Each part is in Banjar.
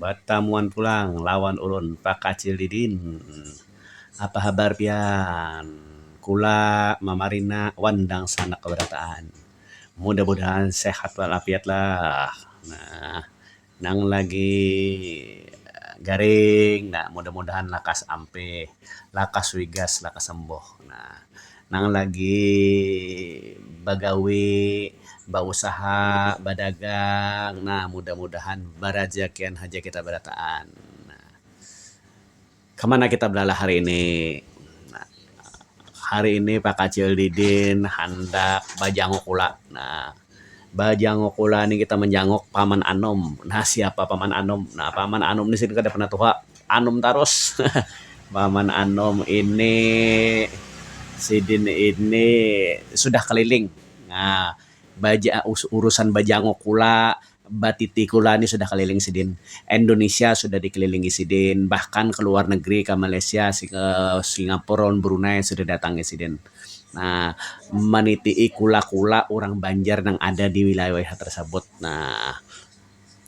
batamuan pulang lawan ulun Pak Acil Didin. Apa habar pian? Kula mamarina wan dangsanak barataan. Mudah-mudahan sehat wal afiat lah. Nah, nang lagi garing, nah mudah-mudahan lakas ampih, lakas wigas, lakas sembuh. Nah. nang lagi bagawi, bausaha, badagang nah mudah-mudahan barajakian haja kita barataan. Kamana kita balalah hari ini? Hari ini Pak Kacil Didin handak bajanguk ula nah. bajanguk ulah ni kita manjanguk paman anum nah siapa paman anum nah paman anum ni sidin kada pernah tuha anum tarus paman anum ini sidin ini sudah keliling nah urusan bajanguk ulah. Batiti kula ni sudah kaliling sidin. Indonesia sudah dikelilingi sidin, bahkan ke luar negeri ka Malaysia, Singapura wan Brunei sudah datangi sidin. Nah, manitii kula-kula urang Banjar nang ada di wilayah-wilayah tersebut. Nah,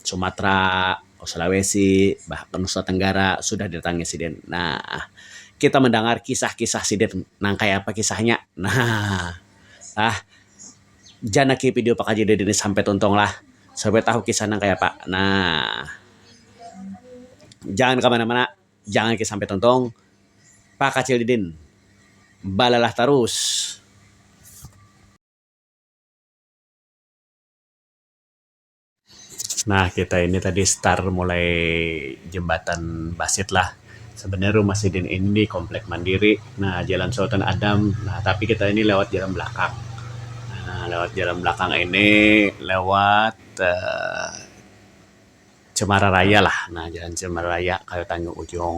Sumatra, Sulawesi, bahkan Nusa Tenggara sudah didatangi sidin. Nah, kita mandangar kisah-kisah sidin. Nang kaya apa kisahnya? Nah, ah. Janaki video pakaji dari dini sampai tuntung lah supaya tahu kisah nang kayapa nah jangan kamana mana jangan ke sampai tuntung pakacil didin balalah tarus. Nah kita ini tadi star mulai jembatan basit lah. Sebenarnya rumah sidin ini di komplek mandiri nah jalan sultan adam nah tapi kita ini lewat jalan belakang nah lewat jalan belakang ini lewat uhh cemara raya lah nah jalan cemara raya kayu tanjung ujung.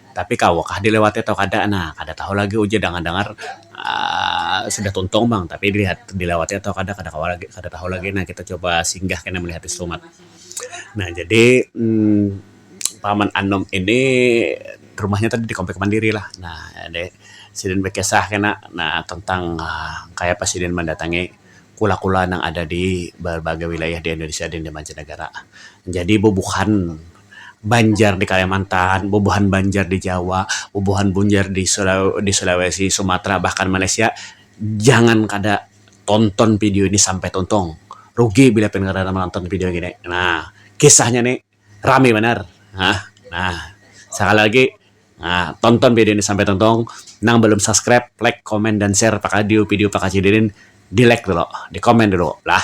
tapi kawa kah dilewati atau kada nah kada tahu lagi ujar dangar dangar um sudah tuntung pang tapi dilihat dilewati atau kada kada kawa lagi kada tahu lagi nah kita coba singgah kena melihat di selumat nah jadi um paman anum ini rumahnya tadi di komplek mandiri lah nah jadi sidin bakisah kena nah tentang kayapa sidin mandatangi kula kula nang ada di berbagai wilayah di indonesia dan di mancanegara jadi bubuhan. Banjar di Kalimantan, bubuhan Banjar di Jawa, bubuhan Bunjar di di Sulawesi, Sumatera, bahkan Malaysia, jangan kada tonton video ini sampai tuntung, rugi bila pian kada manonton video ngini, nah kisahnya ni rami banar, hah nah sakali lagi nah tonton video ini sampai tuntung, nang balum subscribe like, comment, dan share pakadiu video pakacidin ini di like dulu, di comment dulu lah.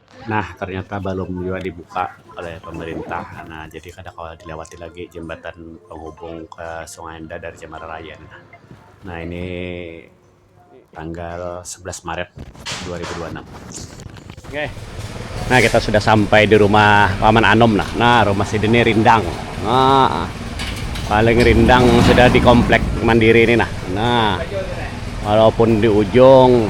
Nah, ternyata balum jua dibuka oleh pemerintah. Nah, jadi kada kawa dilawati lagi jambatan penghubung ke Sungai Indah dari Cemara Raya nih. Nah, ini tanggal sebelas Maret dua ribu dua anam. Okey. Nah, kita sudah sampai di rumah Paman Anum nah. Nah, rumah sini nih rindang. Nah, paling rindang sudah di komplek mandiri ini nah. Nah, walaupun di ujung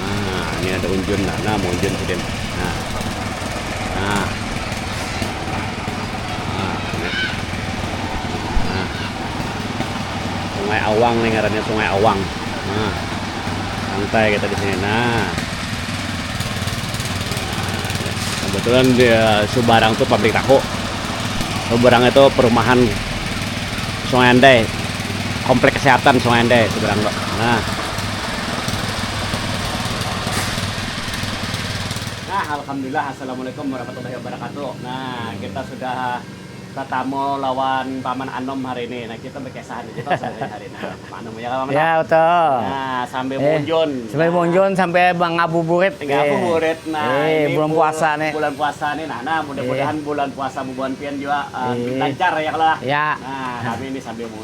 Nah, ini ada unjun nah. Nah, mau unjun sidin. Nah. Nah. Nah, ini. Nah. Sungai Awang nih ngarannya Sungai Awang. Nah. Santai kita di sini. Nah. Kebetulan di eh, Subarang tuh pabrik tahu. Subarang itu perumahan Sungai Andai. Komplek kesehatan Sungai Andai Subarang. Nah. Nah, alhamdulillah assalamualaikum warahmatullahi wabarakatuh. Nah, kita sudah tatamu lawan Paman Anom hari ini. Nah, kita bekesahan aja Pak sebenarnya hari ini lawan Paman Anom ya kan Paman? Ya, betul. Nah, sambil eh, munjun. Sambil nah. munjun sampai ngabuburit. Ngabuburit. Eh. Nah, eh, ini bulan puasa nih. Bulan puasa nih. Nah, nah mudah-mudahan eh. bulan puasa bubuhan pian juga uh, eh. lancar ya kalau. Ya. Nah, kami ini sambil munjun.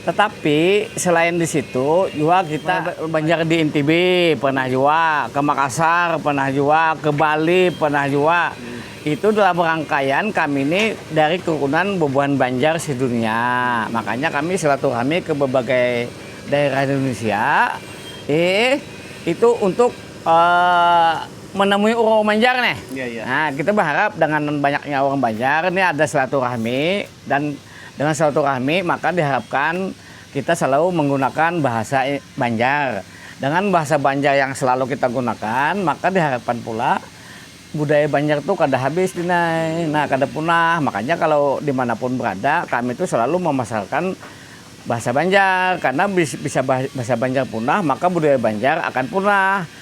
Tetapi selain di situ jua kita banjar di NTB pernah jua, ke Makassar pernah jua, ke Bali pernah jua. Itu dalam rangkaian kami ni dari kerukunan bubuhan Banjar sedunia. Makanya kami silaturahmi ke berbagai daerah di Indonesia ih itu untuk eh menemui urang-urang Banjar nih. Iya, iya. Nah, kita berharap dengan banyaknya orang Banjar nih ada silaturahmi dan Dengan silaturahmi maka diharapkan kita selalu menggunakan bahasa Banjar. Dengan bahasa Banjar yang selalu kita gunakan maka diharapkan pula budaya Banjar tu kada habis dinai, nah kada punah. Makanya kalau dimana pun berada kami tu selalu memasarkan bahasa Banjar karena bisa bahasa Banjar punah maka budaya Banjar akan punah.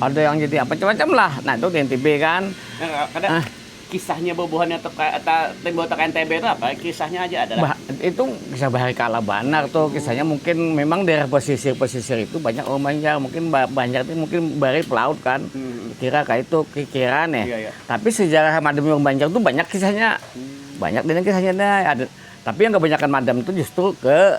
Ada yang jadi apa macam-macam lah. Nah itu di NTB kan. Nah, kada ah. kisahnya bubuhannya tuh ta, timbul tak NTB itu apa? Kisahnya aja ada. Bah, itu kisah bahari kala banar tuh. Kisahnya mungkin memang daerah pesisir-pesisir itu banyak orang Banjar. Mungkin Banjar itu mungkin bari pelaut kan. Hmm. Kira kayak itu kira nih. Iya, iya. Tapi sejarah madem orang Banjar tuh banyak kisahnya. Hmm. Banyak dengan kisahnya ada. Tapi yang kebanyakan madam itu justru ke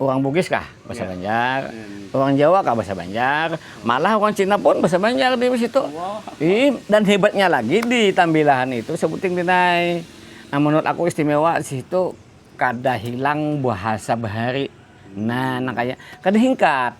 Urang Bugis kah? Bahasa Banjar. Urang Jawa kah? Bahasa Banjar. Malah urang Cina pun bahasa Banjar di situ. Dan hebatnya lagi di Tambilahan itu sebuting dinai. Nah menurut aku istimewa di situ kada hilang bahasa bahari. Nah nang kaya, kada hingkat.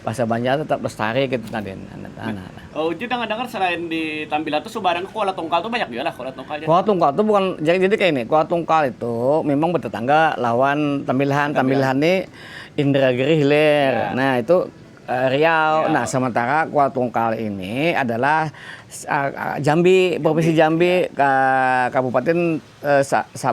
Bahasa Banjar tetap lestari kaytu tadi nah. Kalo Ucuy dangar dangar selain di Tambilan tuh subarang kuala tungkal tuh banyak jua lah kuala tungkal jadi. Kuala tungkal tuh bukan jadi jadi kaya ini kuala tungkal itu mimang betetangga lawan tambilahan tambilahan ni indragiri hilir nah itu riau nah sementara kuala tungkal ini adalah jambi provinsi jambi kabupatin sa sa.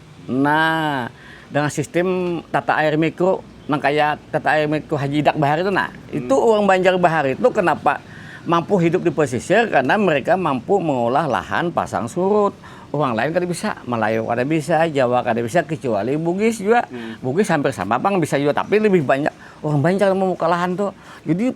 Nah, dengan sistem tata air mikro nang kaya tata air mikro Haji Idak bahari itu nah. Hmm. Itu orang Banjar bahari itu kenapa mampu hidup di pesisir karena mereka mampu mengolah lahan pasang surut. Orang lain kada bisa, Malayu kada bisa, Jawa kada bisa kecuali Bugis juga. Hmm. Bugis hampir sama pang bisa juga tapi lebih banyak orang Banjar membuka lahan tuh. Jadi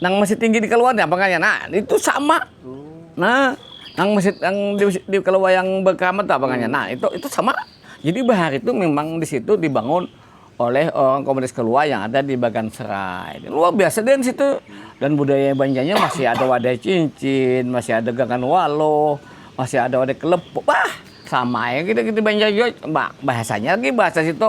nang masjid tinggi di keluar apa kaya nah itu sama nah nang masjid yang di, di keluar yang berkeramat apa kaya nah itu itu sama jadi bahar itu memang di situ dibangun oleh orang komunitas keluar yang ada di Bagan Serai luar biasa dan situ dan budaya banjanya masih ada wadah cincin masih ada gangan walo masih ada wadah kelepok bah sama ya kita kita banja bahasanya lagi bahasa situ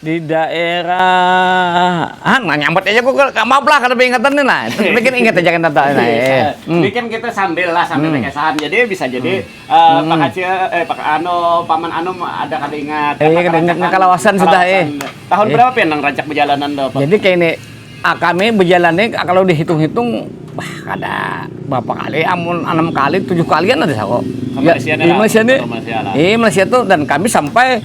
di daerah ah nah nyambat aja gue gak maaf lah karena ingatan nih lah tapi kan ingat aja kan tata nah, eh. hmm. kan kita sambil lah sambil hmm. kesahan jadi bisa jadi hmm. uh, pak kacil eh pak ano paman ano ada kada ingat eh, iya, ingat kalawasan sudah eh tahun eh. berapa ya nang rancak perjalanan tuh jadi kayak ini ah, kami berjalannya ah, kalau dihitung-hitung bah ada berapa kali amun enam kali tujuh kalian ada sako ya, di Malaysia ini di Malaysia tuh dan kami sampai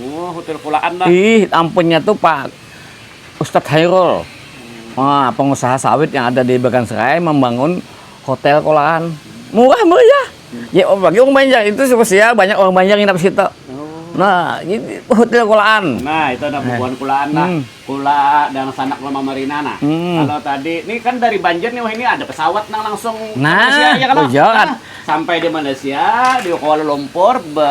Oh, hotel kulaan lah. Ih, ampunnya tuh Pak Ustadz Hairul. Wah, pengusaha sawit yang ada di Bagan Serai membangun hotel kulaan. Murah meriah. Ya, oh, bagi orang Banjar itu spesial, banyak orang Banjar nginap situ. Nah, hotel kulaan. Nah, itu ada bubuhan kulaan lah. Hmm. Kula dan sanak lama Marina nah. Hmm. Kalau tadi, ini kan dari Banjar nih, wah ini ada pesawat nang langsung nah, Malaysia ya kan? Nah, sampai di Malaysia, di Kuala Lumpur, be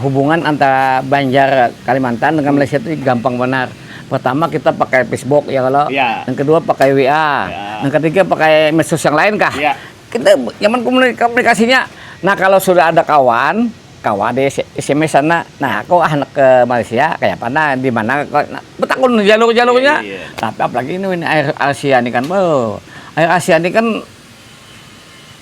hubungan antara banjar kalimantan dengan malaysia itu gampang banar pertama kita pakai pisbuk ya kalo ya yang kedua pakai wa ya yang ketiga pakai mesus yang lain kah ya kita nyaman komunikasinya nah kalo sudah ada kawan kawa di sms sana nah ko handak ke malaysia kayapa nah dimana ko nah betakun jalur-jalurnya iya tapi apalagi ini air asia ni kan beuh air asia ni kan.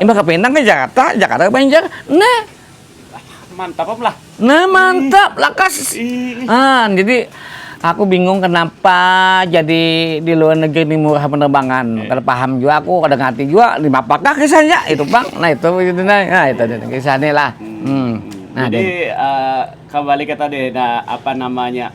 Imbah ka Pinang ke Jakarta, Jakarta ke Banjar. Nah. Mantap apa lah? Nah, mantap, lakas. Ah, jadi aku bingung kenapa jadi di luar negeri ini murah penerbangan. Kada paham juga aku, kada ngerti juga di apakah kisahnya itu, Bang. Nah, itu itu nah, nah itu kisahnya lah. Hmm. Nah, jadi uh, kembali ke tadi nah apa namanya?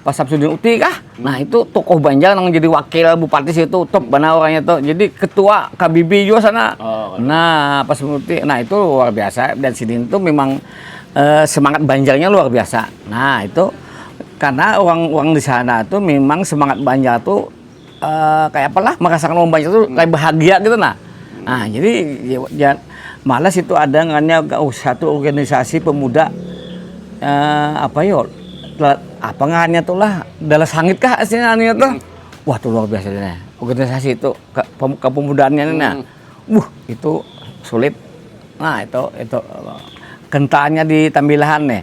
Pak Samsudin Uti kah? Hmm. Nah itu tokoh Banjar yang jadi wakil bupati situ top benar orangnya tuh. Jadi ketua KBB juga sana. Oh, nah Pak Samsudin Uti, nah itu luar biasa dan sini itu memang eh, semangat Banjarnya luar biasa. Nah itu karena orang-orang di sana tuh memang semangat Banjar tuh uh, kayak apalah merasakan momen banyak itu kayak bahagia gitu nah nah jadi ya, ya malas itu ada ngannya oh, satu organisasi pemuda uh, apa yo ya, apa ngannya tuh lah dalam sangit kah sih ngannya tuh wah tuh luar biasa deh organisasi itu ke, kepemudaannya hmm. nah uh itu sulit nah itu itu kentalnya di tambilahan nih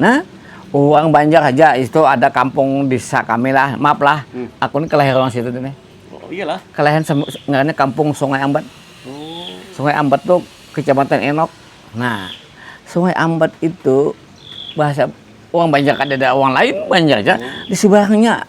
Nah, urang Banjar haja itu ada kampung desa kami lah, maaf lah, hmm. aku ni kelahiran orang situ nih. Oh, iyalah. Kelahiran ngarannya kampung Sungai Ambat. Oh. Sungai Ambat tuh kecamatan Enok. Nah, Sungai Ambat itu bahasa orang Banjar kada ada orang lain Banjar aja oh. di sebelahnya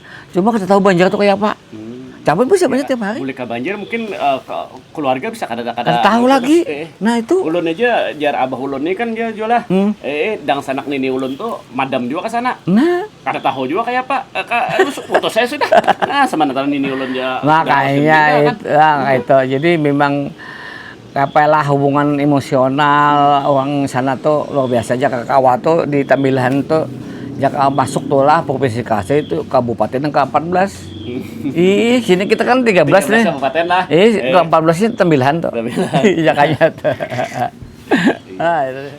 Cuma kita tahu Banjar tuh kayak apa. Hmm. Tapi bisa banyak tiap hari. Mulai ke Banjar mungkin uh, keluarga bisa kada kada kada tahu lagi. Eh, nah itu. Ulun aja jar abah ulun nih kan dia jualah. Hmm. Eh, dang sanak nini ulun tuh madam juga ke sana. Nah. Kada tahu juga kayak apa. Eh, ka, putus saya sudah. Nah, sementara nini ulun dia. Makanya itu, kan. nah, itu. Jadi memang Kayapa lah hubungan emosional orang sana tu luar biasa ja ka kawa tu di tambilahan tu ja ka masuk tu lah provinsi kasih tu kabupaten yang ka ampat belas ih sini kita kan tiga belas nih ih ka ampat belas nih tambilahan tu jakanya tu.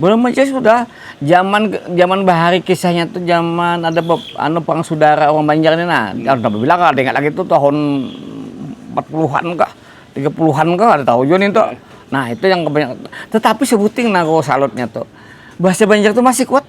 Bulan Maca sudah zaman zaman bahari kisahnya tuh zaman ada bep, anu perang saudara orang Banjar ini nah. Hmm. Ada bila kah ingat lagi tuh tahun 40-an kah, 30-an kah ada tahu juga nih tuh. Nah, itu yang kebanyakan. Tetapi sebuting nago salutnya tuh. Bahasa Banjar tuh masih kuat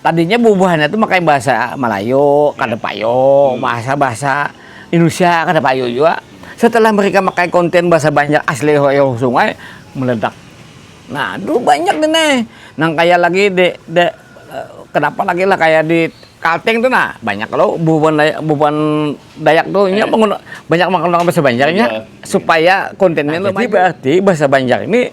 tadinya bubuhannya tuh pakai bahasa Melayu kada iya. payung hmm. bahasa bahasa Indonesia kada payung juga setelah mereka pakai konten bahasa banyak asli hoyo sungai meledak nah dulu banyak deh nih nang kaya lagi de, de eh, kenapa lagi lah kayak di Kalteng tuh nah banyak kalau bubuhan Dayak, bubuhan Dayak tuh ini eh. pengguna, banyak menggunakan bahasa Banjarnya iya. supaya kontennya nah, lebih berarti bahasa Banjar ini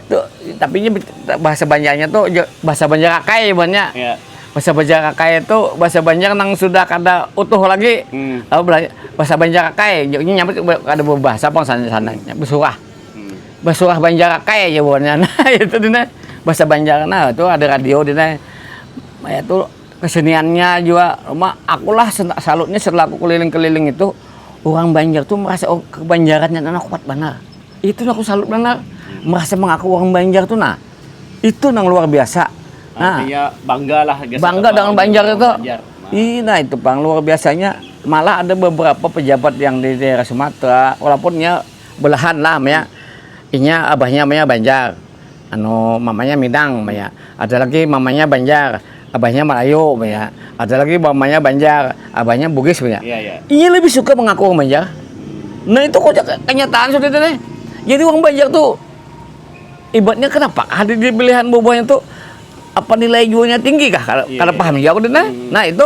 Tuh, tapi ini bahasa Banjarnya tuh bahasa Banjar Akai buannya. Yeah. Bahasa Banjar Akai itu bahasa Banjar nang sudah kada utuh lagi. Hmm. Lalu bahasa Banjar Akai, ini nyampe kada berbahasa pang sana sana hmm. bersurah. Hmm. Bersurah Banjar Akai ya buannya. Nah, itu dina bahasa Banjar nah itu ada radio dina. Ya itu keseniannya juga rumah akulah salutnya setelah aku keliling-keliling itu orang Banjar tuh merasa oh, kebanjarannya anak kuat banget itu aku salut benar merasa mengaku orang Banjar tuh nah itu nang luar biasa nah ya bangga lah bangga dengan Banjar itu Banjar. Nah. Ih, nah itu pang luar biasanya malah ada beberapa pejabat yang di daerah Sumatera walaupun ya belahan lah ya inya abahnya maya Banjar Anu mamanya Minang ba ya. Ada lagi mamanya Banjar, abahnya Melayu ba ya. Ada lagi mamanya Banjar, abahnya Bugis ba ya. Iya, iya. Inya lebih suka mengaku orang Banjar. Nah itu kok kenyataan sudah itu nih. Jadi orang Banjar tuh ibaratnya kenapa ada di pilihan bubuhnya tuh apa nilai jualnya tinggi kah? Iya, kada iya. paham juga aku nah. Hmm. Nah itu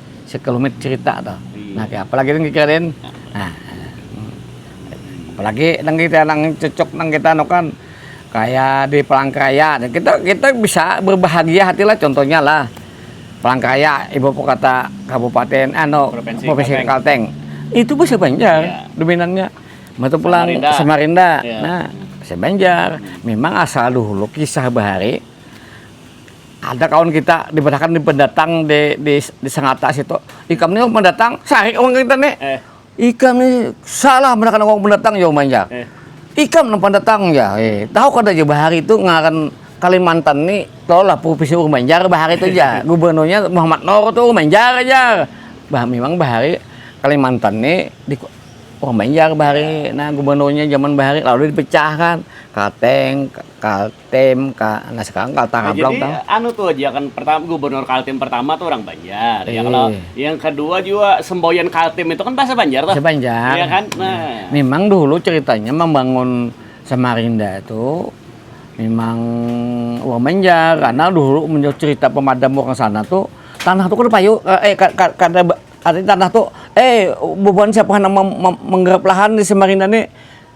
Sekelumit cerita tuh. Iya. Nah, kaya apalagi nang kita den. Nah, apalagi nang kita nang cocok nang kita anu kan kayak di Palangkaraya. Nah, kita kita bisa berbahagia hati lah contohnya lah. Palangkaraya ibu kota kabupaten anu provinsi, provinsi Kalteng. Kalteng. Itu bahasa Banjar iya. dominannya. Mata pulang Samarinda. Samarinda. Iya. Nah, bahasa Banjar. Memang asal dulu kisah bahari Ada kawan kita dibarahakan di pendatang di di di Sangata situ. Ikam ni orang pendatang, sarik orang kita ni. Eh. Ikam ni salah barahakan orang pendatang ya umanya. Eh. Ikam nang pendatang ya. Eh. Tahu kada ja bahari tu ngaran Kalimantan ni lah provinsi orang Banjar bahari tu ja. Gubernurnya Muhammad Nur tu orang Banjar aja. Bah, memang bahari Kalimantan ni di orang Banjar bahari. Nah, gubernurnya zaman bahari lalu dipecahkan. Kateng, Kal Kaltim ka nah sekarang Kalteng nah, Ablaut jadi tau. anu tuh aja kan pertama gubernur Kaltim pertama tuh orang Banjar e. ya kalau yang kedua juga semboyan Kaltim itu kan bahasa Banjar tuh sebanjar ya kan nah. memang dulu ceritanya membangun Samarinda itu memang orang Banjar karena dulu menurut cerita pemadam orang sana tuh tanah tuh kada payu eh kada artinya tanah tuh eh bubuhan siapa yang menggarap lahan di Samarinda nih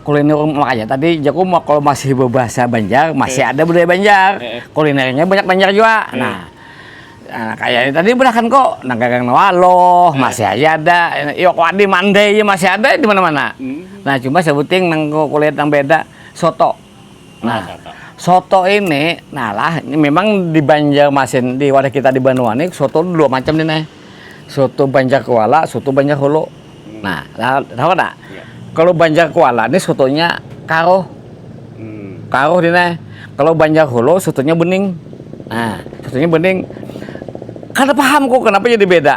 kuliner makanya tadi jaku mau kalau masih berbahasa Banjar masih ada budaya Banjar eh. kulinernya banyak Banjar juga eh. nah Nah, kayak tadi berakan kok nang gagang waloh eh. masih aja ada yo kok di mandai masih ada di mana-mana hmm. nah cuma sebuting nang kulit yang beda soto Nah, soto ini, nah lah, ini memang di Banjarmasin, di wadah kita di Banua ini, soto dua macam nih nih. Soto Banjar Kuala, soto Banjar Hulu. Hmm. Nah, lah, tahu tak? Ya. Kalau Banjar Kuala ini sotonya karuh. Hmm. Karuh nih nih. Kalau Banjar Hulu sotonya bening. Nah, sotonya bening. Kada paham kok kenapa jadi beda.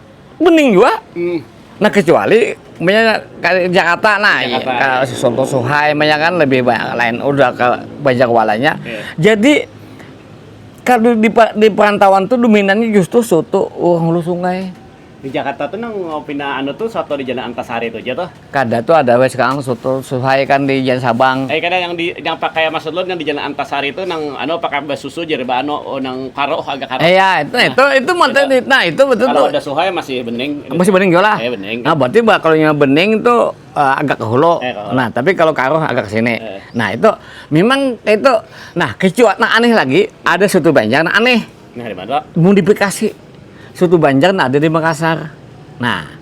bening jua hmm. nah kecuali punya Jakarta nah iya, Jakarta. Ya, si Sonto Suhai punya kan lebih banyak lain udah ke banyak walanya yeah. jadi kalau di, di perantauan tuh dominannya justru soto orang hulu sungai di Jakarta tuh nang pina anu tuh soto di Jalan Antasari tuh aja tuh Kada tu ada wes kang soto suhai kan di jalan sabang. Ai kada yang di yang pakai maksud ulun yang di jalan antasari tu nang anu pakai basusu jer ba anu nang karuh agak karuh. Iya itu nah itu itu matan itu nah itu betul tu. Kalo ada suhai masih bening. Masih bening jua lah. Iya bening. Nah berarti ba kalo nya bening tu agak ke hulu. Eh, kalau. Nah tapi kalo karuh agak ke sini. Eh. Nah itu mimang itu nah kicua nang aneh lagi ada soto banjar nang aneh. Nah dimana tu? Modifikasi soto banjar nang ada di Makassar. Nah.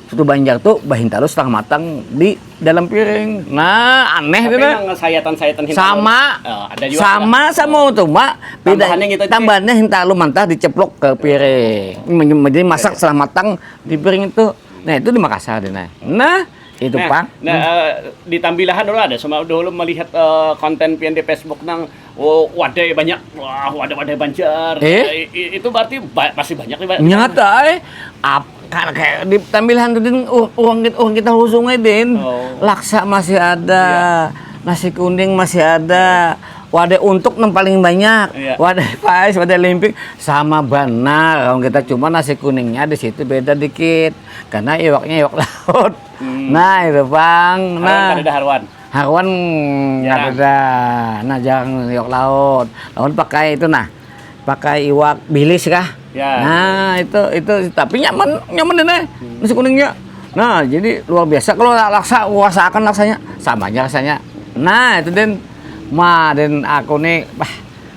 Soto Banjar tu bahintalu setengah matang di dalam piring. Nah, aneh Tapi kan. Emang sayatan-sayatan hintalu. Sama. Oh, ada juga. Sama kan? sama oh. tuh, Mak. Tambahannya gitu. Tambahannya hintalu mantah diceplok ke piring. Oh. Jadi masak setengah matang di piring itu. Nah, itu di Makassar, Dina. Nah, itu nah, pak nah, hmm. Eh, di tambilahan dulu ada sama dulu melihat uh, konten pian di Facebook nang Oh, wadai banyak. Wah, wadai-wadai Banjar. Eh? Eh, i- itu berarti ba- pasti banyak nih, Pak. Nyata eh ap kan kayak di tambilan tuh din u- orang kita orang kita husung eh, din. Oh. Iya. Laksa masih ada, nasi kuning masih ada. Wadai untuk yang paling banyak, Iya. wadai pais, wadai limping sama benar orang kita cuma nasi kuningnya di situ beda dikit karena iwaknya iwak laut. Nah itu bang, Hmm. Haruan nah kadada haruan. Haruan kadada nah jarang iwak laut. Lawan pakai itu nah, pakai iwak bilis kah? Ya. Nah, itu itu tapi nyaman, nyaman deh hmm. nasi kuningnya. Nah, jadi luar biasa kalau laksa akan laksanya sama aja rasanya. Nah, itu Den. Ma, Den aku nih, bah,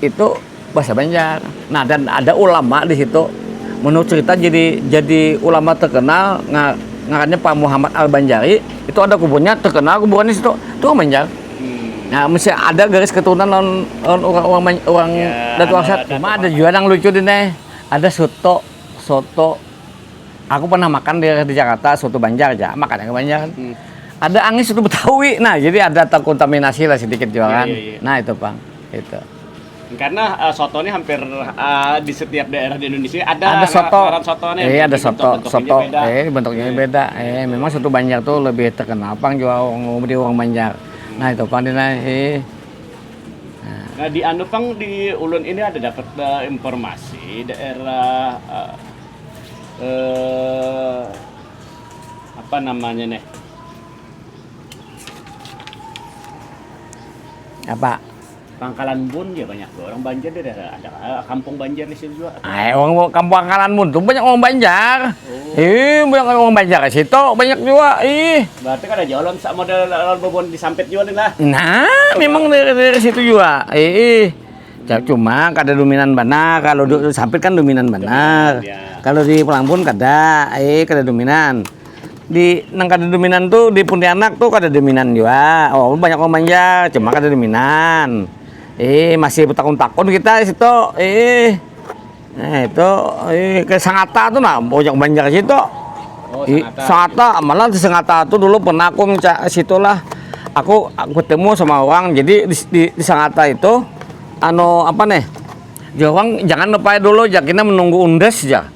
Itu bahasa Banjar. Nah, dan ada ulama di situ. Menurut cerita jadi jadi ulama terkenal ngarannya Pak Muhammad Al Banjari. Itu ada kuburnya terkenal kuburan di situ. Itu orang Banjar. Nah, mesti ada garis keturunan lawan orang orang orang ya, Datu Arsat. Cuma ada juga yang lucu di nih. Ada soto, soto. Aku pernah makan di, di Jakarta soto Banjar aja, makannya ke Banjar. Hmm. Ada angin soto Betawi. Nah, jadi ada terkontaminasi lah sedikit juga ya, kan. Ya, ya, ya. Nah, itu, Bang. Karena uh, soto ini hampir uh, di setiap daerah di Indonesia ada, ada soto. soto nih. Eh, ada soto, bentuk soto. Beda. Eh, bentuknya yeah. beda. Eh, memang soto Banjar tuh lebih terkenal pang jual di orang Banjar. Hmm. Nah, itu pang di nah, eh. Nah, di anu pang di Ulun ini ada dapat uh, informasi daerah uh, uh, apa namanya nih? Apa? Pangkalan Bun ja banyak jua orang Banjar di daerah ada kah kampung Banjar di situ jua? Ay, orang bu- kampung Pangkalan Bun tuh banyak orang Banjar. Ih, banyak orang Banjar di situ, banyak jua. Ih. Berarti kada jauh lawan sa- model lawan babon di Sampit jua nih lah. Nah, memang dari, dari situ juga. Ih. Ya, Cuma kada dominan banar. Kalau di Sampit kan dominan banar. Dominan, ya. Kalau di Pelangbun kada, eh kada dominan. di nang kada dominan tuh di Pontianak tuh kada dominan juga oh banyak orang Banjar cuma kada dominan eh masih takun-takun kita situ eh nah itu eh ke Sangata tuh nah banyak Banjar situ oh, Sangata, Sangata malah di Sangata tuh dulu pernah aku mencari situ lah aku, aku ketemu sama orang jadi di, di, di Sangata itu anu apa nih Jawang jangan lupa dulu ya kita menunggu undes ya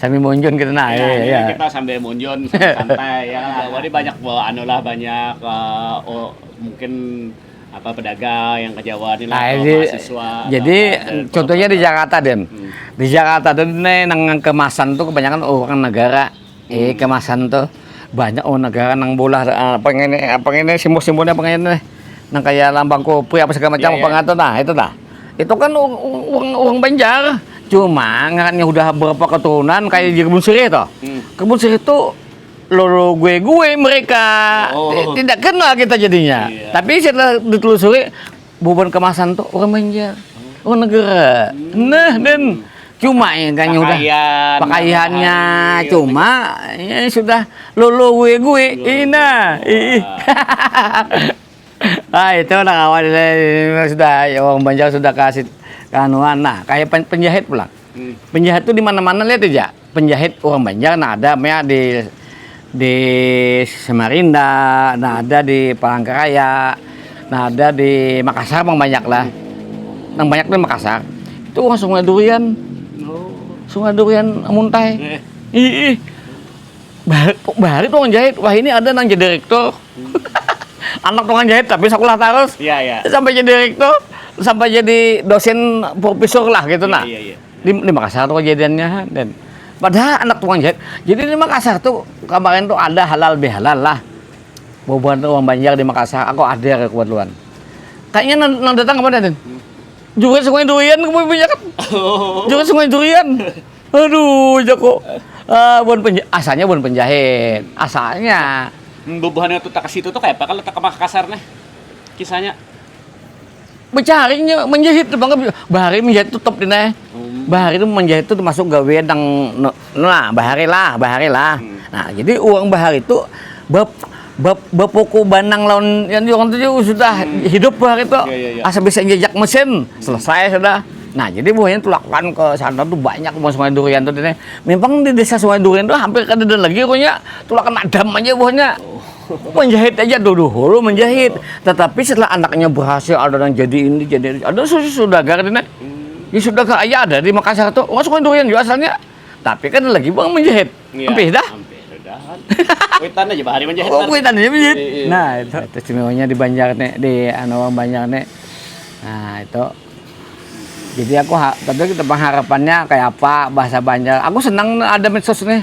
sambil munjun kita nah ya, ya, ya. kita sambil munjun santai ya kan Wadi banyak eh, anu lah banyak uh, oh, mungkin apa pedagang yang ke Jawa nih lah nah, jadi, mahasiswa jadi contohnya di Jakarta Den hmm. di Jakarta tuh nih nang kemasan tuh kebanyakan orang negara Ih kemasan tuh banyak oh negara nang bulah uh, apa ini apa ini simbol-simbolnya apa ini nang kayak lambang kopi apa segala macam yeah, apa yeah. ngatur nah itu dah itu kan uang uang Banjar cuma ngarannya udah berapa keturunan kayak di kebun sirih toh hmm. kebun sirih itu lolo gue gue mereka oh. tidak kenal kita jadinya yeah. tapi setelah ditelusuri Bubuhan kemasan tuh orang Banjar. Oh negara. Nah dan cuma ya kan udah pakaiannya cuma ya sudah lulu gue gue ina ih ah itu udah kawan sudah ya orang Banjar sudah kasih kanuan nah kayak penjahit pulang hmm. penjahit tuh di mana mana lihat aja penjahit orang Banjar nah ada mea di di Samarinda, nah ada di Palangkaraya, nah ada di Makassar mang banyak lah. Nang banyak di Makassar itu orang sungai durian. Sungai durian muntai. Ih, bahari, bahari tukang jahit. Wah ini ada nang jadi direktur. Anak tukang jahit tapi sekolah terus. Ya, ya. Sampai jadi direktur, sampai jadi dosen profesor lah gitu ya, nah. Ya, ya. di, di Makassar tuh kejadiannya ha dan padahal anak tukang jahit jadi di Makassar tuh kemarin tuh ada halal bihalal lah bobohan tuh orang Banjar di Makassar aku ada kebetulan kayaknya nang, nang datang kemana dan juga sungai durian kamu punya kan juga sungai durian aduh jago uh, buan penja asalnya buan penjahit asalnya bobohan itu tak situ tuh kayak apa kalau tak ke Makassar nih kisahnya Mencari, menjahit tu bangga bahari menjahit tu top dina. Hmm. Bahari tu menjahit tu termasuk gawe nang nah bahari lah, bahari lah. Hmm. Nah, jadi uang bahari tu bab bab bapuku banang lawan yang orang tu sudah hmm. hidup bahari tu. Ya, ya, ya. Asa bisa jejak mesin, hmm. selesai sudah. Nah, jadi buahnya tulakan ke sana tuh banyak buah sungai durian tuh dene. Memang di desa sungai durian tuh hampir kada ada lagi punya tulakan madam aja buahnya. Oh. menjahit aja tuh dulu menjahit tetapi setelah anaknya berhasil ada yang jadi ini jadi ada susu sudagar di di sudagar aja ada di Makassar tuh nggak suka durian juga asalnya tapi kan lagi bang menjahit iya, hampir dah hampir dah kuitan aja bahari menjahit oh, kuitan aja menjahit iya, iya. nah itu itu istimewanya di Banjar nih di anu Banjar nih nah itu jadi aku tapi kita pengharapannya kayak apa bahasa Banjar aku senang ada medsos nih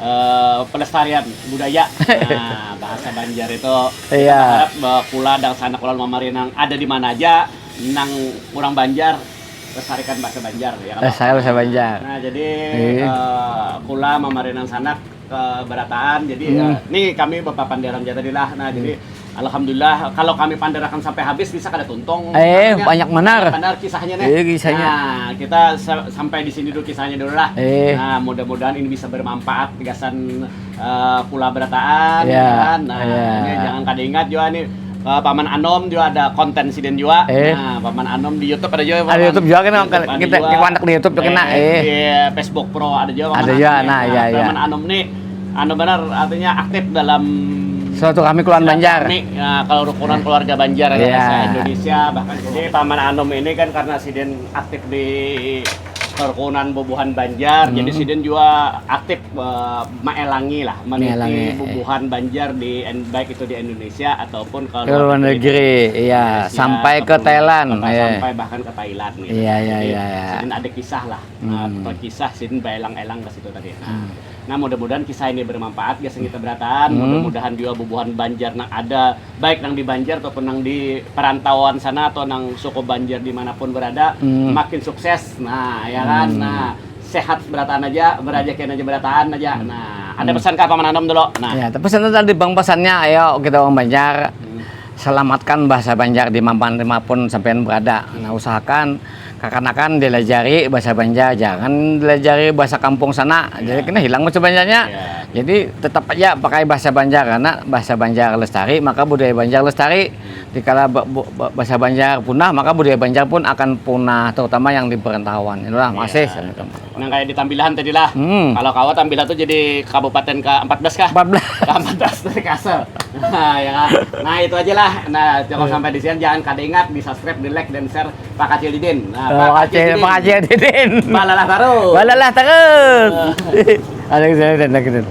Uh, pelestarian budaya nah, bahasa Banjar itu iya. harap bahwa kula dan sanak kula mamari nang ada di mana aja nang kurang Banjar lestarikan bahasa Banjar ya kan saya bahasa Banjar nah jadi iya. uh, kula mamari nang sanak ke berataan jadi hmm. uh, nih kami bapak panderan jatadilah nah hmm. jadi Alhamdulillah, kalau kami pandarakan sampai habis bisa kada tuntung. Eh, Karena banyak banar. Banyak banar kisahnya nih. Iya, kisahnya. Nah, kita sampai di sini dulu kisahnya dulu lah. Eh. Nah, mudah-mudahan ini bisa bermanfaat gasan uh, pula berataan. Yeah. Kan? Nah, yeah. ini jangan kada ingat juga nih uh, Paman Anom juga ada konten siden juga. Eh. Nah, Paman Anom di YouTube ada juga. Paman. Ada YouTube juga kan kita kita kontak di YouTube juga kena. Eh. Di Facebook Pro ada juga. Ada juga. Nah, iya iya. Paman Anom nih Anu banar artinya aktif dalam suatu kami keluarga Banjar. Kami, nah, kalau rukunan keluarga Banjar yeah. Iya. Bahasa Indonesia bahkan jadi paman Anum ini kan karena sidin aktif di kerukunan bubuhan Banjar hmm. jadi sidin juga aktif uh, maelangi lah meniti bubuhan Banjar di baik itu di Indonesia ataupun ke luar negeri iya sampai ke Thailand iya. sampai bahkan ke Thailand gitu. iya iya iya, iya. sidin ada kisah lah hmm. uh, kisah sidin baelang-elang ke situ tadi nah, hmm Nah mudah-mudahan kisah ini bermanfaat gasan kita berataan. Hmm. Mudah-mudahan juga bubuhan Banjar nang ada baik nang di Banjar ataupun nang di perantauan sana atau nang suku Banjar dimanapun berada hmm. makin sukses. Nah ya kan. Hmm. Nah sehat berataan aja, berajakin aja berataan aja. Hmm. Nah ada hmm. pesan ke Paman Anom dulu. Nah. Ya, tapi pesan tadi bang pesannya ayo kita orang Banjar hmm. selamatkan bahasa Banjar di mana pun sampean berada. Nah usahakan Kakanakan dilajari bahasa banjar ja, jangan dilajari bahasa kampung sana, jadi kena hilang bahasa banjarnya. Jadi tetap haja pakai bahasa banjar karena bahasa banjar lestari maka budaya banjar lestari, dikala bahasa banjar punah maka budaya banjar pun akan punah terutama yang di perantauan. Makasih. Nang kaya di Tambilahan tadi lah. Hmm. Kalau kawa Tambilah tuh jadi kabupaten ke 14 kah? 14. Ke 14 dari Kasel. Nah, ya kan? Nah, itu aja lah. Nah, cukup hmm. sampai di sini. Jangan kada ingat di subscribe, di like, dan share Pak Kacil Didin. Nah, oh, Pak Kacil Didin. Pak Kacil Didin. Balalah terus. Balalah terus. Ada yang saya